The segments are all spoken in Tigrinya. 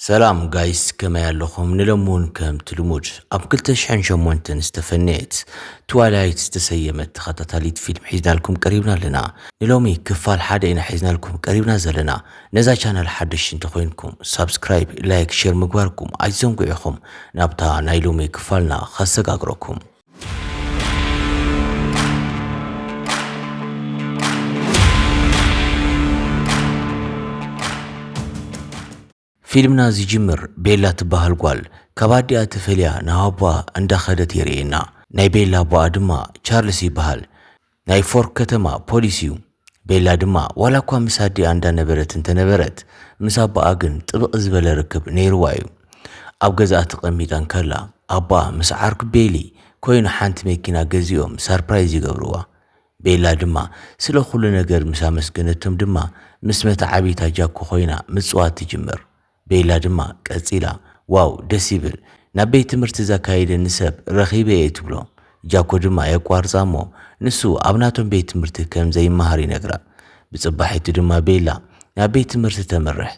ሰላም ጋይስ ከመይ ኣለኹም ንለሙን ከምቲ ልሙድ ኣብ 208 ዝተፈነየት ትዋይላይት ዝተሰየመት ተኸታታሊት ፊልም ሒዝናልኩም ቀሪብና ኣለና ንሎሚ ክፋል ሓደ ኢና ሒዝናልኩም ቀሪብና ዘለና ነዛ ቻናል ሓደሽ እንተኾይንኩም ሳብስክራይብ ላይክ ሼር ምግባርኩም ኣይዘንጉ ኢኹም ናብታ ናይ ሎሚ ክፋልና ከሰጋግረኩም ፊልምና ዝጅምር ቤላ ትበሃል ጓል ካብ ኣዲኣ ተፈልያ ናብ ኣቦኣ እንዳኸደት የርእየና። ናይ ቤላ ኣቦኣ ድማ ቻርልስ ይበሃል። ናይ ፎርክ ከተማ ፖሊስ'ዩ። ቤላ ድማ ዋላኳ ምስ ኣዲኣ እንዳነበረት እንተነበረት ምስ ኣቦኣ ግን ጥብቕ ዝበለ ርክብ ነይርዋ'ዩ። ኣብ ገዝኣ ተቐሚጣ እንከላ ኣቦኣ ምስ ዓርኩ ቤሊ ኮይኑ ሓንቲ መኪና ገዚኦም ሳርፕራይዝ ይገብርዋ። ቤላ ድማ ስለ ኩሉ ነገር ምስ ኣመስገነቶም ድማ ምስ መተዓብይታ ጃኮ ኮይና ምጽዋት ትጅምር። ቤላ ድማ ቀጺላ ዋው ደስ ይብል ናብ ቤት ትምህርቲ ዘካይደኒ ሰብ ረኺበ እየ ትብሎ። ጃኮ ድማ የቋርጻ እሞ ንሱ ኣብ ናቶም ቤት ትምህርቲ ከም ዘይመሃር ይነግራ። ብጽባሒቱ ድማ ቤላ ናብ ቤት ትምህርቲ ተምርሕ።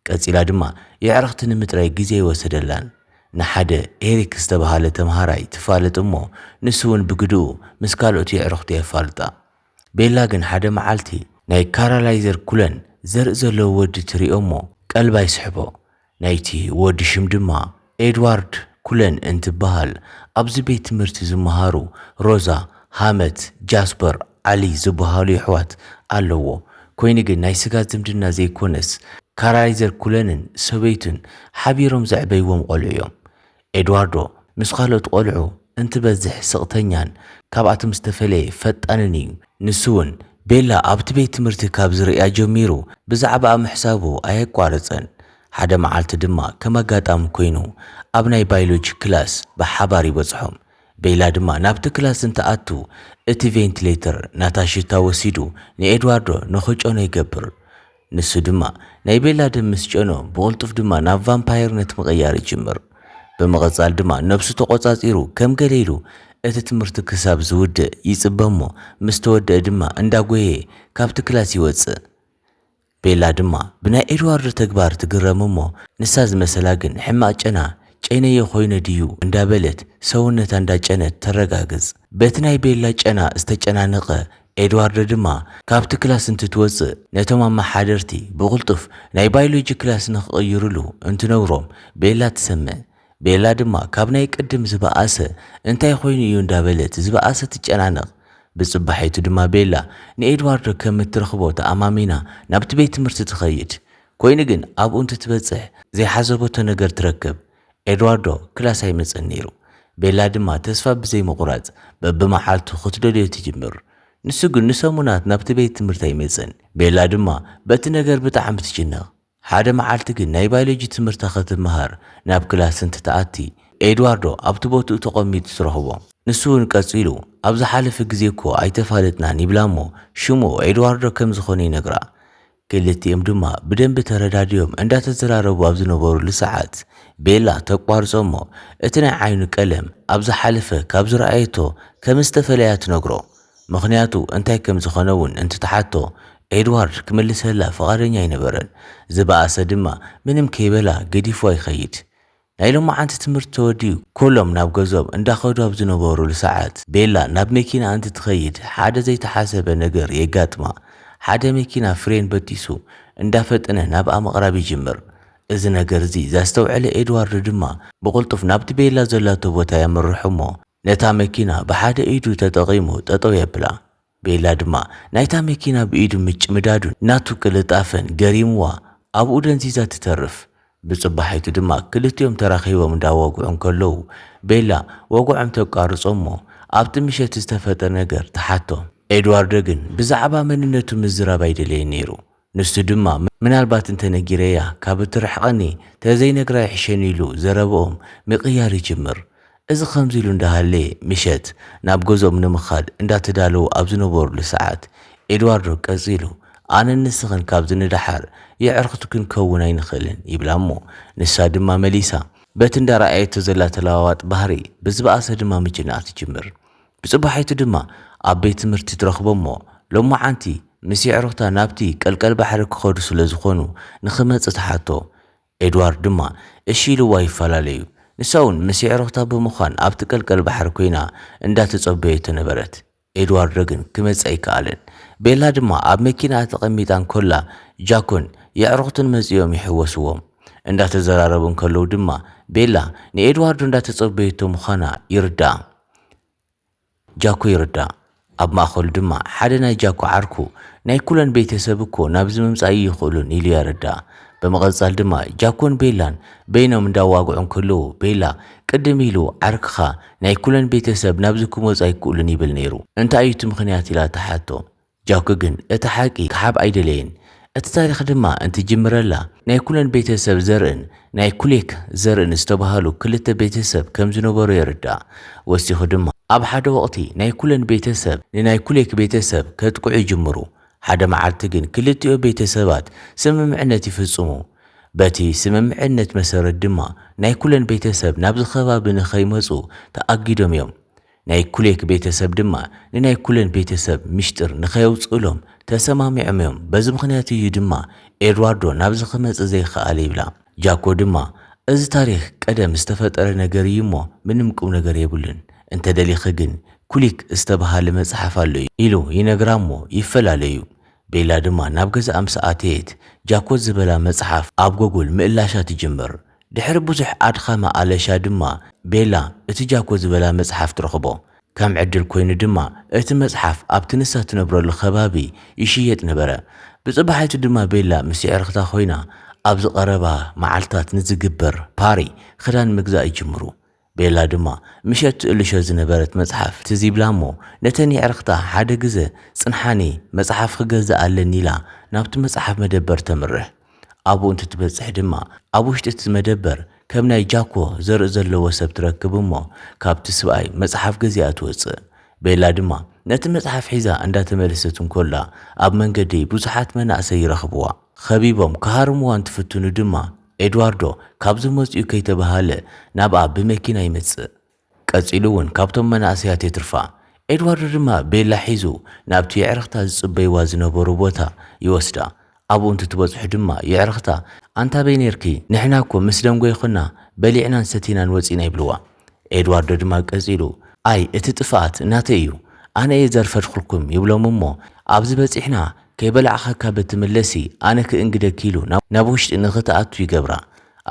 ቀጺላ ድማ የዕርኽቲ ንምጥራይ ግዜ ኣይወሰደላን። ንሓደ ኤሪክ ዝተበሃለ ተምሃራይ ትፋለጥ እሞ ንሱ እውን ብግድኡ ምስ ካልኦት የዕርኽቱ የፋልጣ። ቤላ ግን ሓደ መዓልቲ ናይ ካራላይዘር ኩለን ዘርኢ ዘለዎ ወዲ ትሪኦ እሞ ቀልባ ይስሕቦ ናይቲ ወዲ ሽም ድማ ኤድዋርድ ኩለን እንትበሃል ኣብዚ ቤት ትምህርቲ ዝመሃሩ ሮዛ ሃመት ጃስፐር ዓሊ ዝበሃሉ የሕዋት ኣለዎ ኮይኑ ግን ናይ ስጋ ዝምድና ዘይኮነስ ካራላይዘር ኩለንን ሰበይቱን ሓቢሮም ዘዕበይዎም ቆልዑ እዮም ኤድዋርዶ ምስ ካልኦት ቈልዑ እንትበዝሕ ስቕተኛን ካብኣቶም ዝተፈለየ ፈጣንን እዩ። ንሱ'ውን ቤላ ኣብቲ ቤት ትምህርቲ ካብ ዝርእያ ጀሚሩ ብዛዕባኣ ምሕሳቡ ኣየቋረጸን። ሓደ መዓልቲ ድማ ከም ኣጋጣሚ ኰይኑ ኣብ ናይ ባይሎጂ ክላስ ብሓባር ይበጽሖም። ቤላ ድማ ናብቲ ክላስ እንትኣቱ እቲ ቬንትሌተር ናታ ሽታ ወሲዱ ንኤድዋርዶ ንኽጨኖ ይገብር። ንሱ ድማ፣ ናይ ቤላ ደም ምስ ጨኖ፣ ብቕልጡፍ ድማ ናብ ቫምፓየርነት ምቕያር ይጅምር። ብምቕጻል ድማ ነብሱ ተቖጻጺሩ ከም ገለ ኢሉ እቲ ትምህርቲ ክሳብ ዝውድእ ይጽበ እሞ ምስ ተወደኣ ድማ እንዳጎየየ ካብቲ ክላስ ይወጽእ። ቤላ ድማ ብናይ ኤድዋርዶ ተግባር ትግረም እሞ ንሳ ዝመሰላ ግን ሕማቕ ጨና ጨይነዮ ኮይነ ድዩ እንዳበለት ሰውነታ እንዳጨነት ተረጋግጽ። በቲ ናይ ቤላ ጨና ዝተጨናነቐ ኤድዋርዶ ድማ ካብቲ ክላስ እንትትወጽእ ነቶም ኣመሓደርቲ ብቕልጡፍ ናይ ባይሎጂ ክላስ ንኽቕይሩሉ እንትነግሮም ቤላ ትሰምዕ። ቤላ ድማ ካብ ናይ ቅድም ዝበኣሰ እንታይ ኮይኑ እዩ እንዳበለት ዝበኣሰ ትጨናነቕ። ብጽባሒቱ ድማ ቤላ ንኤድዋርዶ ከም እትረኽቦ ተኣማሚና ናብቲ ቤት ትምህርቲ ትኸይድ። ኮይኑ ግን ኣብኡ እንትትበጽሕ ዘይሓሰበቶ ነገር ትረክብ። ኤድዋርዶ ክላስ ኣይመጽእን ነይሩ፣ ቤላ ድማ ተስፋ ብዘይ ምቝራጽ በብመዓልቱ ክትደልዮ ትጅምር። ንሱ ግን ንሰሙናት ናብቲ ቤት ትምህርቲ ኣይመጽእን፣ ቤላ ድማ በቲ ነገር ብጣዕሚ ትጭነቕ። ሓደ መዓልቲ ግን ናይ ባይሎጂ ትምህርታ ክትመሃር ናብ ክላስ እንትትኣቲ ኤድዋርዶ ኣብቲ ቦትኡ ተቐሚጡ ትረኽቦ። ንሱ'ውን ቀጺሉ ኣብ ዝሓለፈ ግዜ እኮ ኣይተፋለጥናን ይብላ እሞ ሽሙ ኤድዋርዶ ከም ዝዀነ ይነግራ። ክልቲኦም ድማ ብደንቢ ተረዳዲዮም እንዳተዘራረቡ ኣብ ዝነበሩሉ ሰዓት ቤላ ተቋርጾ እሞ እቲ ናይ ዓይኑ ቀለም ኣብ ዝሓለፈ ካብ ዝረኣየቶ ከም ዝተፈለያ ትነግሮ። ምኽንያቱ እንታይ ከም ዝኾነ እውን እንትትሓቶ ኤድዋርድ ክምልሰላ ፍቓደኛ ኣይነበረን። ዝበኣሰ ድማ ምንም ከይበላ ገዲፍዋ ይኸይድ። ናይ ሎማዓንቲ ትምህርቲ ተወዲኡ ኮሎም ናብ ገዝኦም እንዳኸዱ ኣብ ዝነበሩሉ ሳዓት ቤላ ናብ መኪና እንትትኸይድ ሓደ ዘይተሓሰበ ነገር የጋጥማ ሓደ መኪና ፍሬን በጢሱ እንዳፈጠነ ናብኣ ምቕራብ ይጅምር እዚ ነገር እዚ ዛስተውዐለ ኤድዋርድ ድማ ብቕልጡፍ ናብቲ ቤላ ዘላቶ ቦታ የምርሕ'ሞ ነታ መኪና ብሓደ ኢዱ ተጠቒሙ ጠጠው የብላ ቤላ ድማ ናይታ መኪና ብኢዱ ምጭምዳዱን ናቱ ቅልጣፈን ገሪምዋ ኣብኡ ደንዚዛ ትተርፍ። ብጽባሒቱ ድማ ክልቲኦም ተራኺቦም እንዳወግዑ እንከለዉ ቤላ ወግዖም ተቋርጾ እሞ ኣብቲ ምሸት ዝተፈጥረ ነገር ትሓቶም። ኤድዋርዶ ግን ብዛዕባ መንነቱ ምዝራብ ኣይደለየን ነይሩ። ንሱ ድማ ምናልባት እንተ ነጊረያ ካብ እትርሕቐኒ ተዘይነግራ ይሕሸኒ ኢሉ ዘረባኦም ምቕያር ይጅምር። እዚ ከምዚ ኢሉ እንዳሃለየ ምሸት ናብ ገዝኦም ንምኻድ እንዳተዳለዉ ኣብ ዝነበሩሉ ሰዓት ኤድዋርዶ ቀጺሉ ኣነን ንስኽን ካብዚ ንደሓር የዕርኽቲ ክንከውን ኣይንኽእልን ይብላ'ሞ ንሳ ድማ መሊሳ በቲ እንዳረኣየቶ ዘላ ተለዋዋጥ ባህሪ ብዝበኣሰ ድማ ምጭናቕ ትጅምር። ብጽባሒቱ ድማ ኣብ ቤት ትምህርቲ ትረኽቦም'ሞ ሎማዓንቲ ምስ የዕሩኽታ ናብቲ ቀልቀል ባሕሪ ክኸዱ ስለ ዝኾኑ ንኽመጽእ ትሓቶ። ኤድዋርድ ድማ እሺ ኢሉዋ ይፈላለዩ። ንሳ'ውን ምስ የዕሩኽታ ብምዃን ኣብቲ ቀልቀል ባሕሪ ኮይና እንዳተጸበየቶ ነበረት። ኤድዋርዶ ግን ክመጽእ ኣይከኣለን። ቤላ ድማ ኣብ መኪናኣ ተቐሚጣ እንከላ ጃኮን የዕሩኽቱን መጺኦም ይሕወስዎም። እንዳተዘራረቡ እንከለዉ ድማ ቤላ ንኤድዋርዶ እንዳተጸበየቶ ምዃና ይርዳኣ። ጃኩ ይርዳእ፣ ኣብ ማእከሉ ድማ ሓደ ናይ ጃኩ ዓርኩ፣ ናይ ኩለን ቤተ ሰብ እኮ ናብዚ ምምጻእ ኣይይኽእሉን ኢሉ የረድኣ። ብምቕጻል ድማ ጃኩን ቤላን በይኖም እንዳዋግዑ እንክልዉ ቤላ ቅድም ኢሉ ዓርክኻ ናይ ኩለን ቤተ ሰብ ናብዚ ክመጹ ኣይክእሉን ይብል ነይሩ እንታይ እዩ እቲ ምኽንያት ኢላ ትሓቶ። ጃኩ ግን እቲ ሓቂ ክሓብ ኣይደለየን። እቲ ታሪኽ ድማ እንትጅምረላ ናይ ኩለን ቤተ ሰብ ዘርእን ናይ ኩሌክ ዘርእን ዝተባህሉ ክልተ ቤተ ሰብ ከም ዝነበሩ የርዳእ። ወሲኹ ድማ ኣብ ሓደ ወቕቲ ናይ ኩለን ቤተ ሰብ ንናይ ኩሌክ ቤተ ሰብ ከጥቅዑ ይጅምሩ። ሓደ መዓልቲ ግን ክልቲኦ ቤተ ሰባት ስምምዕነት ይፍጽሙ። በቲ ስምምዕነት መሰረት ድማ ናይ ኩለን ቤተ ሰብ ናብዚ ከባቢ ንኸይመጹ ተኣጊዶም እዮም። ናይ ኩሌክ ቤተሰብ ድማ ንናይ ኩለን ቤተሰብ ሚሽጥር ንከየውጽእሎም ተሰማሚዖም እዮም በዚ ምክንያት እዩ ድማ ኤድዋርዶ ናብዚ ክመጽእ ዘይክኣለ ይብላ ጃኮ ድማ እዚ ታሪክ ቀደም ዝተፈጠረ ነገር እዩ እሞ ምንም ቁምነገር የብሉን እንተደሊኪ ግን ኩሊክ ዝተባሃለ መጽሓፍ ኣሎ ኢሉ ይነግራ እሞ ይፈላለዩ ቤላ ድማ ናብ ገዛኣ ምስ ኣተየት ጃኮ ዝበላ መጽሓፍ ኣብ ጎጉል ምእላሻ ትጅምር ድሕሪ ብዙሕ ኣድኻሚ ኣለሻ ድማ ቤላ እቲ ጃኮ ዝበላ መጽሓፍ ትረኽቦ። ከም ዕድል ኮይኑ ድማ እቲ መጽሓፍ ኣብቲ ንሳ ትነብረሉ ከባቢ ይሽየጥ ነበረ። ብጽባሒቱ ድማ ቤላ ምስ የዕርኽታ ኮይና ኣብዚ ቀረባ መዓልታት ንዝግበር ፓሪ ክዳን ምግዛእ ይጅምሩ። ቤላ ድማ ምሸት ትእልሾ ዝነበረት መጽሓፍ ትዝ ይብላ'ሞ ነተን የዕርኽታ ሓደ ግዘ ጽንሓኒ መጽሓፍ ክገዝእ ኣለኒ ኢላ ናብቲ መጽሓፍ መደበር ተምርሕ። ኣብኡ እንትትበጽሕ ድማ ኣብ ውሽጢ'ቲ መደበር ከም ናይ ጃኮ ዘርኢ ዘለዎ ሰብ ትረክብ'ሞ ካብቲ ስብኣይ መጽሓፍ ገዚኣ ትወጽእ። ቤላ ድማ ነቲ መጽሓፍ ሒዛ እንዳተመለሰት እንኮላ ኣብ መንገዲ ብዙሓት መናእሰይ ይረኽብዋ። ኸቢቦም ክሃርምዋ እንትፍትኑ ድማ ኤድዋርዶ ካብዚ መጺኡ ከይተበሃለ ናብኣ ብመኪና ይመጽእ። ቀጺሉ እውን ካብቶም መናእሰያት የትርፋ። ኤድዋርዶ ድማ ቤላ ሒዙ ናብቲ የዕርኽታ ዝጽበይዋ ዝነበሩ ቦታ ይወስዳ። ኣብኡ እንትትበጽሑ ድማ የዕርኽታ ኣንታበይ ኔርኪ ንሕና እኮ ምስ ደንጎየ ኮና በሊዕናን ሰቲናን ወጺእና ይብልዋ። ኤድዋርዶ ድማ ቀጺሉ፣ ኣይ እቲ ጥፍኣት ናተይ እዩ፣ ኣነ እየ ዘርፈድኩልኩም ይብሎም እሞ፣ ኣብዚ በጺሕና ከይበላዕኻ ካብ እትምለሲ ኣነ ክእንግደኪ ኢሉ ናብ ውሽጢ ንኽትኣቱ ይገብራ።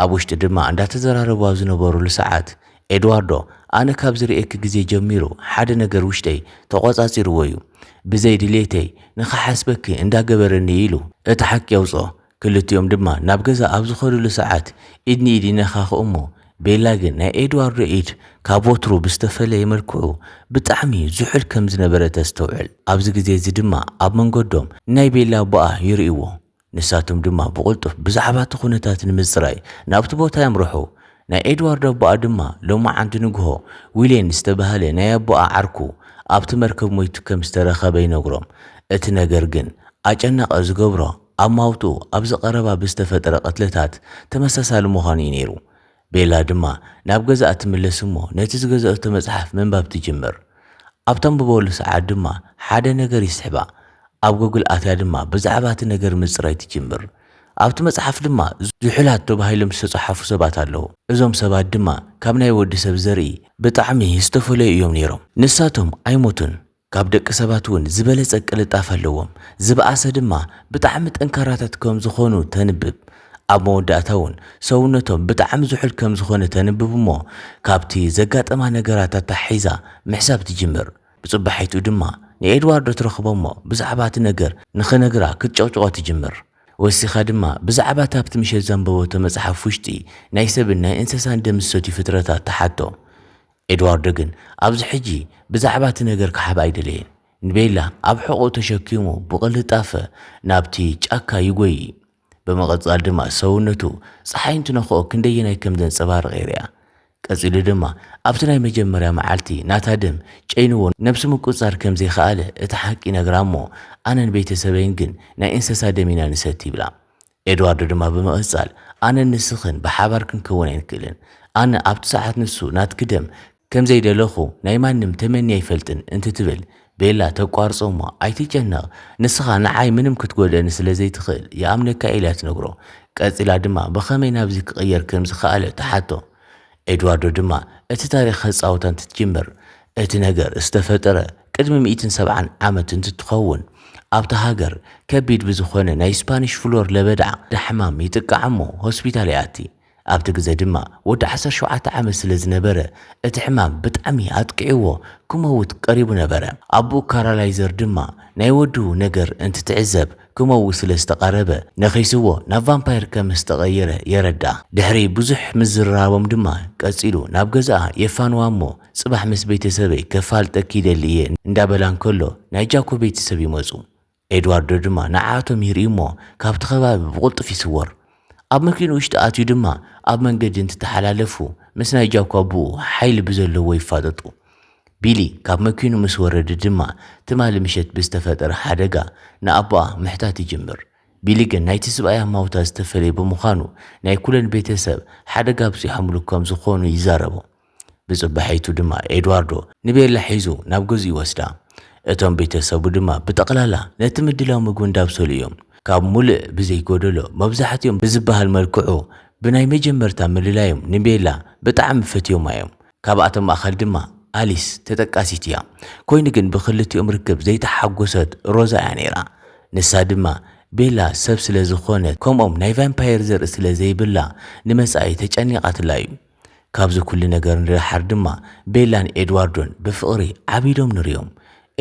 ኣብ ውሽጢ ድማ እንዳተዘራረቡ ኣብ ዝነበሩሉ ሰዓት ኤድዋርዶ ኣነ ካብ ዝርእየኪ ግዜ ጀሚሩ ሓደ ነገር ውሽጠይ ተቖጻጺርዎ እዩ፣ ብዘይ ድሌተይ ንኽሓስበኪ እንዳገበረኒ እዩ ኢሉ እቲ ሓቂ የውጽኦ። ክልቲኦም ድማ ናብ ገዛ ኣብ ዝኸዱሉ ሰዓት ኢድ ንኢድ ይነኻኽኡ እሞ ቤላ ግን ናይ ኤድዋርዶ ኢድ ካብ ወትሩ ብዝተፈለየ መልክዑ ብጣዕሚ ዝሑል ከም ዝነበረ ተስተውዕል። ኣብዚ ግዜ እዚ ድማ ኣብ መንገዶም ንናይ ቤላ ኣቦኣ ይርእይዎ። ንሳቶም ድማ ብቕልጡፍ ብዛዕባ እቲ ኩነታት ንምጽራይ ናብቲ ቦታ የምርሑ። ናይ ኤድዋርዶ ኣቦኣ ድማ ሎማዓንቲ ንግሆ ዊሌን ዝተባህለ ናይ ኣቦኣ ዓርኩ ኣብቲ መርከብ ሞይቱ ከም ዝተረኸበ ይነግሮም። እቲ ነገር ግን ኣጨናቒ ዝገብሮ ኣማውትኡ ኣብዚ ቀረባ ብዝተፈጥረ ቅትለታት ተመሳሳሊ ምዃኑ እዩ ነይሩ። ቤላ ድማ ናብ ገዛኣ ትምለስ እሞ ነቲ ዝገዘኣቶ መጽሓፍ ምንባብ ትጅምር። ኣብ ተንብበሉ ሰዓት ድማ ሓደ ነገር ይስሕባ። ኣብ ጎግል ኣትያ ድማ ብዛዕባ እቲ ነገር ምጽራይ ትጅምር። ኣብቲ መጽሓፍ ድማ ዝሑላት ተባሂሎም ዝተጻሓፉ ሰባት ኣለዉ። እዞም ሰባት ድማ ካብ ናይ ወዲ ሰብ ዘርኢ ብጣዕሚ ዝተፈለዩ እዮም ነይሮም። ንሳቶም ኣይሞቱን፣ ካብ ደቂ ሰባት እውን ዝበለጸ ቅልጣፈ ኣለዎም፣ ዝበኣሰ ድማ ብጣዕሚ ጠንካራታት ከም ዝኾኑ ተንብብ። ኣብ መወዳእታ እውን ሰውነቶም ብጣዕሚ ዝሑል ከም ዝኾነ ተንብብ እሞ ካብቲ ዘጋጠማ ነገራት ኣተሓሒዛ ምሕሳብ ትጅምር። ብጽባሒትኡ ድማ ንኤድዋርዶ ትረኽቦ እሞ ብዛዕባ እቲ ነገር ንኽነግራ ክትጨቕጭቖ ትጅምር። ወሲኻ ድማ ብዛዕባ እቲ ኣብቲ ምሸት ዘንበበቶ መጽሓፍ ውሽጢ ናይ ሰብን ናይ እንሰሳን ደም ዝሰትዩ ፍጥረታት ትሓቶ። ኤድዋርዶ ግን ኣብዚ ሕጂ ብዛዕባ እቲ ነገር ክሓብ ኣይደለየን። ንቤላ ኣብ ሕቖኡ ተሸኪሙ ብቕልጣፈ ናብቲ ጫካ ይጐዪ። ብምቕጻል ድማ ሰውነቱ ጸሓይ እንትነኽኦ ክንደየናይ ከም ዘንጸባርቕ ይርኣ። ቀጺሉ ድማ ኣብቲ ናይ መጀመርያ መዓልቲ ናታ ደም ጨይንዎ ነብሱ ምቁጽጻር ከም ዘይከኣለ እቲ ሓቂ ይነግራ እሞ ኣነን ቤተሰበይን ግን ናይ እንሰሳ ደም ኢና ንሰቲ ይብላ። ኤድዋርዶ ድማ ብምቕጻል፣ ኣነን ንስኽን ብሓባር ክንከውን ኣይንክእልን። ኣነ ኣብቲ ሰዓት ንሱ ናትኪ ደም ከም ዘይደለኹ ናይ ማንም ተመንየ ኣይፈልጥን እንትትብል፣ ቤላ ተቋርጾ እሞ ኣይትጨነቕ ንስኻ ንዓይ ምንም ክትጎድእኒ ስለ ዘይትኽእል ይኣምነካ ኢያ ትነግሮ። ቀጺላ ድማ ብኸመይ ናብዚ ክቕየር ከም ዝኸኣለ ትሓቶ። ኤድዋርዶ ድማ እቲ ታሪኽ ከጻውታ እንትትጅምር፣ እቲ ነገር ዝተፈጠረ ቅድሚ ሚእትን ሰብዓን ዓመት እንትትኸውን፣ ኣብታ ሃገር ከቢድ ብዝኾነ ናይ ስፓኒሽ ፍሎር ለበዳ ዳሕማም ይጥቃዕ እሞ ሆስፒታል ይኣቲ። ኣብቲ ግዘ ድማ ወዲ ዓሰርተ ሸውዓተ ዓመት ስለ ዝነበረ እቲ ሕማም ብጣዕሚ ኣጥቂዕዎ ክመውት ቀሪቡ ነበረ። ኣቡኡ ካራላይዘር ድማ ናይ ወዱ ነገር እንትትዕዘብ ክመውት ስለ ዝተቓረበ፣ ነኺስዎ ናብ ቫምፓየር ከም ዝተቐየረ የረድኣ። ድሕሪ ብዙሕ ምዝርራቦም ድማ ቀጺሉ ናብ ገዛኣ የፋንዋ እሞ ጽባሕ ምስ ቤተሰበይ ከፋልጠኪ ይደሊ እየ እንዳበላ እንከሎ ናይ ጃኮ ቤተሰብ ይመጹ። ኤድዋርዶ ድማ ንዓኣቶም ይርኢ እሞ ካብቲ ከባቢ ብቕልጡፍ ይስወር። ኣብ መኪኑ ውሽጢ ኣትዩ ድማ ኣብ መንገዲ እንትተሓላለፉ ምስ ናይ ጃኩ ኣቡኡ ሓይሊ ብዘለዎ ይፋጠጡ። ቢሊ ካብ መኪኑ ምስ ወረደ ድማ ትማሊ ምሸት ብዝተፈጠረ ሓደጋ ንኣቡኣ ምሕታት ይጅምር። ቢሊ ግን ናይቲ ስብኣይ ኣማውታ ዝተፈለየ ብምዃኑ ናይ ኩለን ቤተሰብ ሓደጋ ኣብፂሖምሉ ከም ዝኾኑ ይዛረቡ። ብጽባሒቱ ድማ ኤድዋርዶ ንቤላ ሒዙ ናብ ገዝኡ ይወስዳ። እቶም ቤተሰቡ ድማ ብጠቕላላ ነቲ ምድላው ምግቢ እንዳብሰሉ እዮም። ካብ ሙሉእ ብዘይ ጎደሎ መብዛሕቲኦም ብዝበሃል መልክዑ ብናይ መጀመርታ ምልላዮም ንቤላ ብጣዕሚ ፈትዮማ እዮም። ካብኣቶም ማእኸል ድማ ኣሊስ ተጠቃሲት እያ። ኮይኑ ግን ብኽልቲኦም ርክብ ዘይተሓጎሰት ሮዛ እያ ነይራ። ንሳ ድማ ቤላ ሰብ ስለዝኾነት ከምኦም ናይ ቫምፓየር ዘርኢ ስለዘይብላ ንመጻኢ ተጨኒቓትላ እዩ። ካብዚ ኩሉ ነገር ንደሓር ድማ ቤላን ኤድዋርዶን ብፍቕሪ ዓቢዶም ንርእዮም።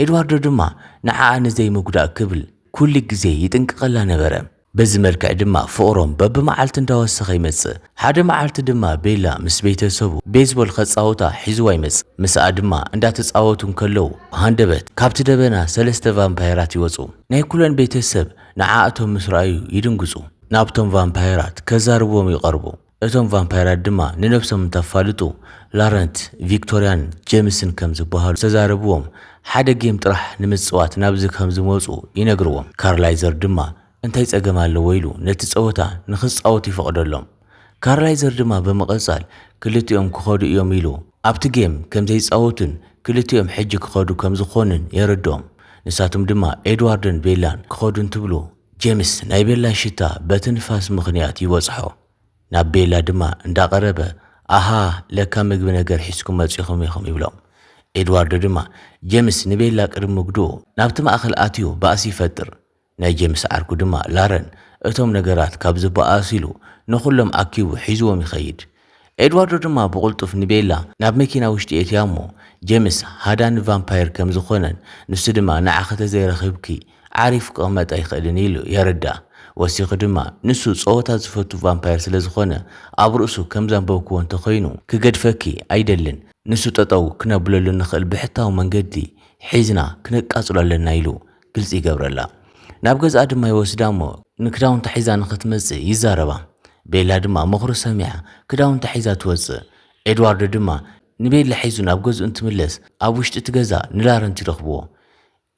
ኤድዋርዶ ድማ ንዓኣ ንዘይምጉዳእ ክብል ኩሉ ግዜ ይጥንቀቐላ ነበረ። በዚ መልክዕ ድማ ፍቕሮም በብመዓልቲ እንዳወሰኸ ይመጽእ። ሓደ መዓልቲ ድማ ቤላ ምስ ቤተሰቡ ቤዝቦል ከጻውታ ሒዝዋ ይመጽእ። ምስኣ ድማ እንዳተጻወቱ እንከለዉ ብሃንደበት ካብቲ ደበና ሰለስተ ቫምፓየራት ይወጹ። ናይ ኩለን ቤተሰብ ንዓኣቶም ምስ ረኣዩ ይድንግጹ። ናብቶም ቫምፓየራት ከዛርብዎም ይቐርቡ። እቶም ቫምፓይራት ድማ ንነብሶም እንተፋልጡ ላረንት፣ ቪክቶርያን ጀምስን ከም ዝበሃሉ ዝተዛረብዎም ሓደ ጌም ጥራሕ ንምጽዋት ናብዚ ከም ዝመጹ ይነግርዎም። ካርላይዘር ድማ እንታይ ጸገም ኣለዎ ኢሉ ነቲ ጸወታ ንኽጻወቱ ይፈቕደሎም። ካርላይዘር ድማ ብምቕጻል ክልቲኦም ክኸዱ እዮም ኢሉ ኣብቲ ጌም ከም ዘይጻወቱን ክልቲኦም ሕጂ ክኸዱ ከም ዝኾኑን የረድኦም። ንሳቶም ድማ ኤድዋርድን ቤላን ክኸዱ እንትብሉ፣ ጀምስ ናይ ቤላ ሽታ በቲ ንፋስ ምኽንያት ይበጽሖ። ናብ ቤላ ድማ እንዳ ቀረበ ኣሃ ለካ ምግቢ ነገር ሒዝኩም መጺኹም ኢኹም ይብሎም። ኤድዋርዶ ድማ ጀምስ ንቤላ ቅድሚ ምግድኡ ናብቲ ማእከል ኣትዩ ባእሲ ይፈጥር። ናይ ጀምስ ዓርኩ ድማ ላረን እቶም ነገራት ካብ ዝበኣሱ ኢሉ ንኹሎም ኣኪቡ ሒዝዎም ይኸይድ። ኤድዋርዶ ድማ ብቕልጡፍ ንቤላ ናብ መኪና ውሽጢ የእትያ እሞ፣ ጀምስ ሃዳ ንቫምፓየር ከም ዝዀነን ንሱ ድማ ንዓኺ ተዘይረኺብኪ ዓሪፉ ክቕመጥ ኣይክእልን ኢሉ የረድኣ። ወሲኹ ድማ፣ ንሱ ጸወታ ዝፈቱ ቫምፓየር ስለ ዝዀነ፣ ኣብ ርእሱ ከም ዘንበብክዎ እንተ ዀይኑ ክገድፈኪ ኣይደልን፣ ንሱ ጠጠው ክነብለሉ እንኽእል ብሕታዊ መንገዲ ሒዝና ክነቃጽሎ ኣለና ኢሉ ግልጺ ይገብረላ። ናብ ገዝኣ ድማ ይወስዳ እሞ ንክዳውንታ ሒዛ ንኽትመጽእ ይዛረባ። ቤላ ድማ ምኽሩ ሰሚዓ ክዳውንታ ሒዛ ትወጽእ። ኤድዋርዶ ድማ ንቤላ ሒዙ ናብ ገዝኡ እንትምለስ ኣብ ውሽጢ እቲ ገዛ ንላረንት ይረኽብዎ።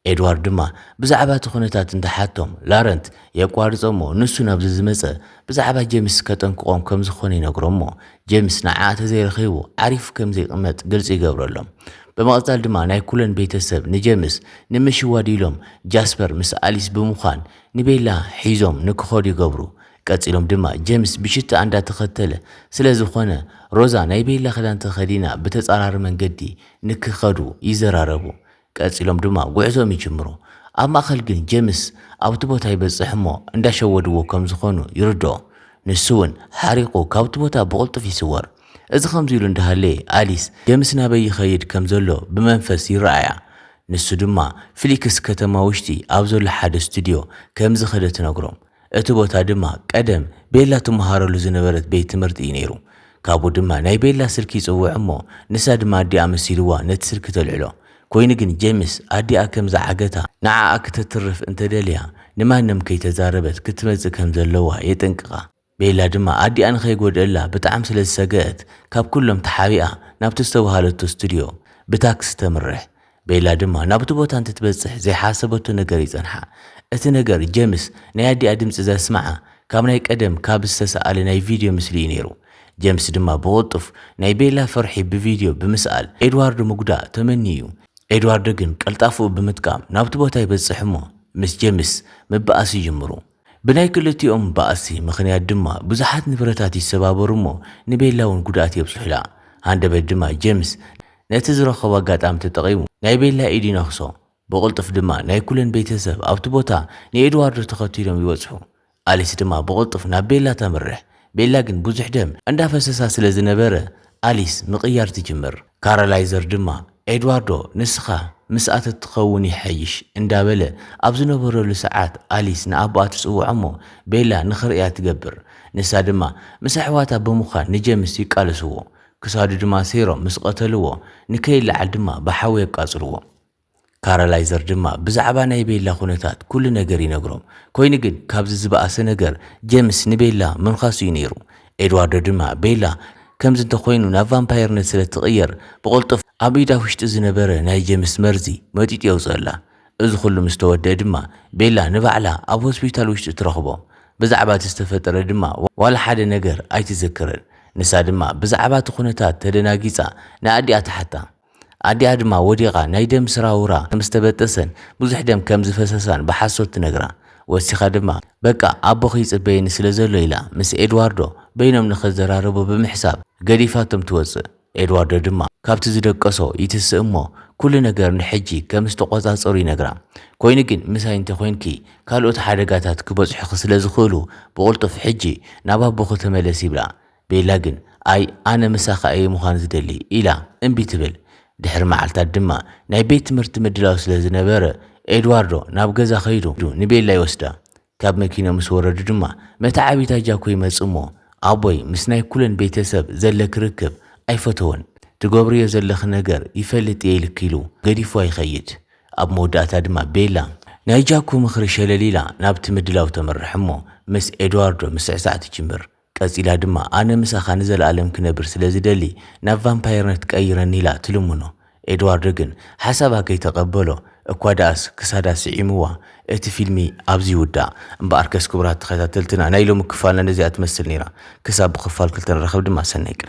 ኤድዋርድ ድማ ብዛዕባ እቲ ኩነታት እንትሓቶም ላረንት የቋርጾ እሞ ንሱ ናብ ዝዝመጸ ብዛዕባ ጄምስ ከጠንቅቖም ከም ዝኾነ ይነግሮም እሞ ጀምስ ንዓ ተዘይረኺቡ ዓሪፍ ከም ዘይቕመጥ ግልጺ ይገብረሎም። ብምቕጻል ድማ ናይ ኩለን ቤተሰብ ንጀምስ ንምሽዋድ ኢሎም ጃስፐር ምስ ኣሊስ ብምዃን ንቤላ ሒዞም ንክኸዱ ይገብሩ። ቀጺሎም ድማ ጀምስ ብሽትኣ እንዳተኸተለ ስለዝኾነ ሮዛ ናይ ቤላ ክዳን ተኸዲና ብተጻራሪ መንገዲ ንክኸዱ ይዘራረቡ። ቀጺሎም ድማ ጉዕዞኦም ይጅምሩ። ኣብ ማእከል ግን ጀምስ ኣብቲ ቦታ ይበጽሕ እሞ እንዳሸወድዎ ከም ዝኾኑ ይርድኦ። ንሱ ውን ሓሪቑ ካብቲ ቦታ ብቕልጡፍ ይስወር። እዚ ከምዚ ኢሉ እንዳሃለየ ኣሊስ ጀምስ ናበይ ይኸይድ ከም ዘሎ ብመንፈስ ይረኣያ። ንሱ ድማ ፍሊክስ ከተማ ውሽጢ ኣብ ዘሎ ሓደ ስቱድዮ ከም ዝኸደ ትነግሮም። እቲ ቦታ ድማ ቀደም ቤላ ትመሃረሉ ዝነበረት ቤት ትምህርቲ እዩ ነይሩ። ካብኡ ድማ ናይ ቤላ ስልኪ ይጽውዕ እሞ ንሳ ድማ ኣዲኣ መሲልዋ ነቲ ስልኪ ተልዕሎ። ኮይኑ ግን ጀምስ ኣዲኣ ከም ዝዓገታ ንዓኣ ክተትርፍ እንተ ደልያ ንማንም ከይተዛረበት ክትመጽእ ከም ዘለዋ የጠንቅቃ። ቤላ ድማ ኣዲኣ ንኸይጎድእላ ብጣዕሚ ስለ ዝሰገኣት ካብ ኩሎም ተሓቢኣ ናብቲ ዝተባሃለቶ ስቱድዮ ብታክሲ ተምርሕ። ቤላ ድማ ናብቲ ቦታ እንትትበጽሕ ዘይሓሰበቶ ነገር ይጸንሓ። እቲ ነገር ጀምስ ናይ ኣዲኣ ድምጺ ዘስምዓ ካብ ናይ ቀደም ካብ ዝተሰኣለ ናይ ቪድዮ ምስሊ እዩ ነይሩ። ጀምስ ድማ ብቕልጡፍ ናይ ቤላ ፍርሒ ብቪድዮ ብምስኣል ኤድዋርዶ ምጉዳእ ተመንዩ እዩ። ኤድዋርዶ ግን ቀልጣፍኡ ብምጥቃም ናብቲ ቦታ ይበጽሕ እሞ ምስ ጀምስ ምብኣስ ይጅምሩ። ብናይ ክልቲኦም ባእሲ ምኽንያት ድማ ብዙሓት ንብረታት ይሰባበሩ እሞ ንቤላ እውን ጉድኣት የብፅሑላ። ሃንደበት ድማ ጀምስ ነቲ ዝረኸቦ ኣጋጣሚ ተጠቒሙ ናይ ቤላ ኢድ ይነኽሶ። ብቕልጡፍ ድማ ናይ ኩለን ቤተሰብ ኣብቲ ቦታ ንኤድዋርዶ ተኸቲሎም ይበፅሑ። ኣሊስ ድማ ብቕልጡፍ ናብ ቤላ ተምርሕ። ቤላ ግን ብዙሕ ደም እንዳፈሰሳ ስለ ዝነበረ ኣሊስ ምቕያር ትጅምር። ካራላይዘር ድማ ኤድዋርዶ ንስኻ ምስኣ ተትኸውን ይሓይሽ እንዳበለ ኣብ ዝነበረሉ ሰዓት ኣሊስ ንኣቦኣ ትጽውዖ'ሞ ቤላ ንኽርእያ ትገብር። ንሳ ድማ ምስ ኣሕዋታ ብምዃን ንጀምስ ይቃለስዎ። ክሳዱ ድማ ሰይሮም ምስ ቐተልዎ ንከይለዓል ድማ ብሓዊ የቃጽልዎ። ካራላይዘር ድማ ብዛዕባ ናይ ቤላ ኩነታት ኩሉ ነገር ይነግሮም። ኮይኑ ግን ካብዚ ዝበኣሰ ነገር ጀምስ ንቤላ ምንካሱ እዩ ነይሩ። ኤድዋርዶ ድማ ቤላ ከምዚ እንተኾይኑ ናብ ቫምፓየርነት ስለ እትቕየር ብቕልጡፍ ኣብ ኢዳ ውሽጢ ዝነበረ ናይ ጀምስ መርዚ መጢጡ የውጽእላ። እዚ ኩሉ ምስ ተወድኣ ድማ ቤላ ንባዕላ ኣብ ሆስፒታል ውሽጢ ትረኽቦ። ብዛዕባ እቲ ዝተፈጠረ ድማ ዋላ ሓደ ነገር ኣይትዝክርን። ንሳ ድማ ብዛዕባ እቲ ኩነታት ተደናጊጻ ንኣዲኣ ትሓታ። ኣዲኣ ድማ ወዲቓ ናይ ደም ስራውራ ከም ዝተበጠሰን ብዙሕ ደም ከም ዝፈሰሳን ብሓሶት ትነግራ። ወሲኻ ድማ በቃ ኣቦኺ ይጽበየኒ ስለ ዘሎ ኢላ ምስ ኤድዋርዶ በይኖም ንኽዘራረቡ ብምሕሳብ ገዲፋቶም ትወጽእ። ኤድዋርዶ ድማ ካብቲ ዝደቀሶ ይትስእ እሞ ኩሉ ነገር ንሕጂ ከም ዝተቖጻጸሩ ይነግራ። ኮይኑ ግን ምሳይ እንተ ኾይንኪ ካልኦት ሓደጋታት ክበጽሑኺ ስለ ዝኽእሉ ብቕልጡፍ ሕጂ ናብ ኣቦኺ ተመለሲ ይብላ። ቤላ ግን ኣይ ኣነ ምሳኻ እየ ምዃን ዝደሊ ኢላ እምቢ ትብል። ድሕሪ መዓልታት ድማ ናይ ቤት ትምህርቲ ምድላው ስለ ዝነበረ ኤድዋርዶ ናብ ገዛ ከይዱ ንቤላ ይወስዳ። ካብ መኪና ምስ ወረዱ ድማ መተዓቢታ ጃኮ ይመጽእ እሞ ኣቦይ ምስ ናይ ኩለን ቤተ ሰብ ዘለኪ ርክብ ኣይፈተዎን ትገብርዮ ዘለኺ ነገር ይፈልጥ እየ ኢልኪ ኢሉ ገዲፍዋ ይኸይድ። ኣብ መወዳእታ ድማ ቤላ። ናይ ጃኮ ምኽሪ ሸለል ኢላ ናብቲ ምድላው ተምርሕ እሞ ምስ ኤድዋርዶ ምስዕሳዕ ትጅምር። ቀጺላ ድማ ኣነ ምሳኻ ንዘለኣለም ክነብር ስለ ዝደሊ ናብ ቫምፓየርነት ቀይረኒ ኢላ ትልምኖ። ኤድዋርዶ ግን ሓሳባ ከይተቐበሎ እኳ ደኣስ ክሳዳ ስዒምዋ እቲ ፊልሚ ኣብዚ ይውዳእ። እምበኣርከስ ክቡራት ተኸታተልትና ናይ ሎሚ ክፋልና ነዚኣ ትመስል ነይራ። ክሳብ ብኽፋል ክልተ ንራኸብ ድማ ሰናይ ቅነ።